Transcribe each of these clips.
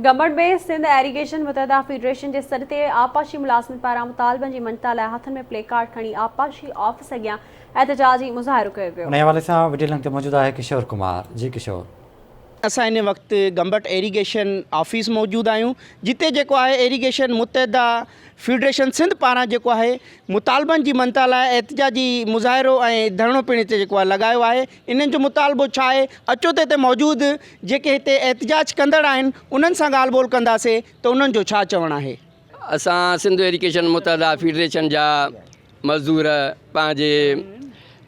Gambat ۾ Sindh irrigation متحده federation جي سڏ تي آبپاشي ملازمن پاران مطالبن جي مڃتا لاء هٿن ۾ پلي ڪارڊ کڻي آبپاشي آفيس اڳيان احتجاجي مظاهرو ڪيو ويو. انهيء حوالي سان وڊيو لنڪ تي موجود آهي ڪشور ڪمار، جي ڪشور. اسان هن وقت گمبٽ ايريگيشن آفيس موجود آهيون جتي جيڪو آهي ايريگيشن متحده فيڊريشن سنڌ پاران جيڪو آهي مطالبن جي مڃتا لاء احتجاجي مظاهرو ۽ ڌرڻو پڻ هتي جيڪو آهي لڳايو آهي. انهن جو مطالبو ڇا آهي؟ اچو ته هتي موجود جيڪي هتي احتجاج ڪندڙ آهن انهن سان ڳالهه ٻولهه ڪنداسين ته انهن جو ڇا چوڻ آهي. اسان سنڌ ايڊيوڪيشن متحده فيڊريشن جا مزدور پنهنجي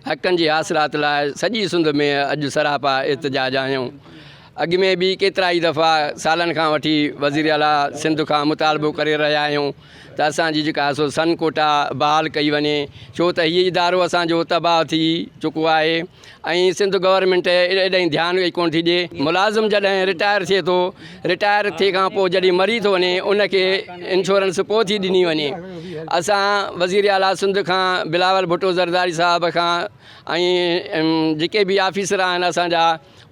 حقن جي حاصلات لاء سڄي سنڌ ۾ اڄ سراپا احتجاج آهيون اڳ ۾ به ڪيترائي دفعا سالن کان وٺي وزير اعليٰ سنڌ کان مطالبو ڪري رهيا آهيون ته اسان جي جيڪا سو سن ڪوٽا بحال ڪئي وڃي ڇو ته هي ادارو اسان جو تباهه ٿي چڪو آهي ۽ سنڌ گورنمينٽ ايڏانهن ڌيان ئي ڪونه ٿي ڏي ملازم جڏهن رٽائر ٿئي ٿو رٽائر ٿي کان پوء جڏهن مري ٿو وڃي ان کي انشورنس پوء ٿي ڏني وڃي اسان وزير اعليٰ سنڌ کان بلاول ڀٽو زرداري صاحب کان ۽ جيڪي به آفيسر آهن اسان جا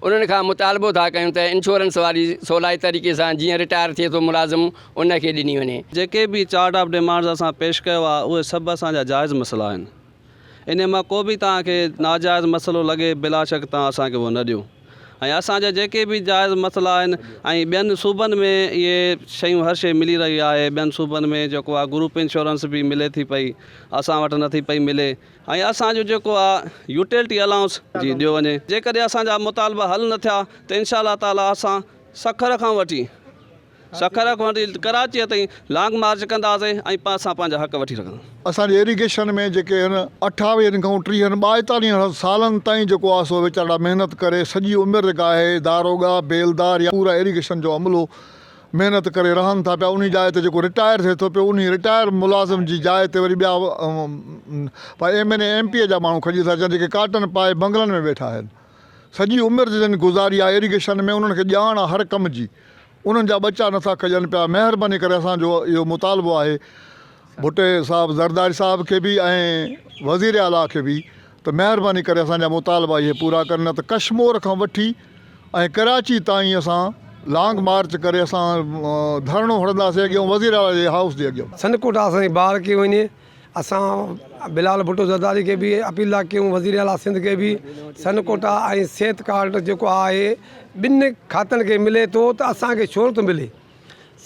انهن کان مطالبو ٿا ڪيون ته انشورنس واري سولائي طريقي سان جيئن رٽائر ٿئي ٿو ملازم ان کي ڏني وڃي. جيڪي به چارٽ آف ڊيمانڊز اسان پيش ڪيو آهي اهي سڀ اسان جا جائز مسئلا آهن انهي مان ڪو به توهان کي ناجائز مسئلو لڳي بلاشڪ توهان اسان کي اهو نه ڏيو ۽ اسان جا جيڪي به جائز مسئلا آهن ۽ ٻين صوبن ۾ اهي شيون هر شي ملي رهي آهي ٻين صوبن ۾ جيڪو آهي گروپ انشورنس به ملي ٿي پئي اسان وٽ نٿي پئي ملي ۽ اسان جو جيڪو آ يوٽيلٽي الائونس جي ڏيو وڃي جيڪڏهن اسان جا مطالبا حل نه ٿيا ته انشاء الله تعالي اسان سکر کان وٺي سکر کان وٺي ڪراچي تائين لانگ مارچ ڪنداسين ۽ اسان پنهنجا حق وٺي رکنداسين. اسان جي ايريگيشن ۾ جيڪي هن اٺاويهن کان ٽيهن ٻائيتاليهن سالن تائين جيڪو آ سو ويچارڙا محنت ڪري سڄي عمر گاهي داروغا، بيلدار يا پورا ايريگيشن جو عملو محنت ڪري رهن ٿا پيا انهي جاء تي جيڪو رٽائر ٿئي ٿو پيو انهي رٽائر ملازم جي جاء تي وري ٻيا پاء M N A M P A جا ماڻهو کڄي ٿا اچن جيڪي ڪاٽن پائي بنگلن ۾ ويٺا آهن سڄي عمر جي جن گذاري آهي اريگيشن ۾ انهن کي ڄاڻ آهي هر ڪم جي انهن جا ٻچا نٿا کڄن پيا مهرباني ڪري اسان جو اهو مطالبو آهي ڀٽي صاحب زرداري صاحب کي به ۽ وزير اعليٰ کي به ته مهرباني ڪري اسان جا مطالبا اهي پورا ڪن نه ته ڪشمور کان وٺي ۽ ڪراچي تائين اسان لانگ مارچ ڪري اسان ڌرڻو هڻنداسين اڳيون وزيراعليٰ جي هائوس جي اڳيان. سنڌ ڪوٽ آساني بحال ڪئي وڃي اسان بلال ڀٽو زرداري کي به اپيل ٿا ڪيون وزير اعلٰي سنڌ کي به سنڌ ڪوٽ ۽ صحت ڪارڊ جيڪو آهي ٻن کاتن کي ملي ٿو ته اسانکي ڇو نٿو ملي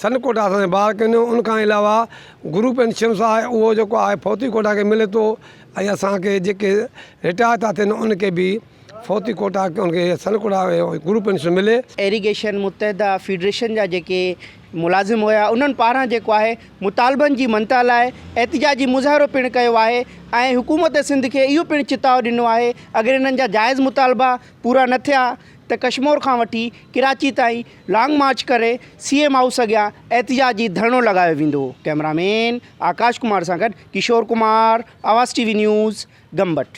سن ڪوٽا اسان جي بار ڪنيو ان کان علاوه گروپ انشورنس آهي اهو جيڪو آهي فوتي ڪوٽا کي ملي ٿو ۽ اسانکي جيڪي رٽائر ٿا ٿين ان کي به فوتي ڪوٽا ان کي سن ڪوٽا گروپ انشورنس ملي ايريگيشن متحده فيڊريشن جا جيڪي ملازم هيا انهن پاران جيڪو آهي مطالبن جي منتا لاء احتجاجي مظاهرو پڻ ڪيو آهي ۽ حڪومت سنڌ کي اهو پڻ چتاء ڏنو آهي اگر انهن جا جائز مطالبا پورا نه ٿيا ته ڪشمور کان وٺي ڪراچي تائين لانگ مارچ ڪري سي ايم هائوس اڳيان احتجاجي ڌرڻو لڳايو ويندو، ڪئميرا مين آڪاش ڪمار سان گڏ Kishore Kumar, Awaz T V news, Gambat.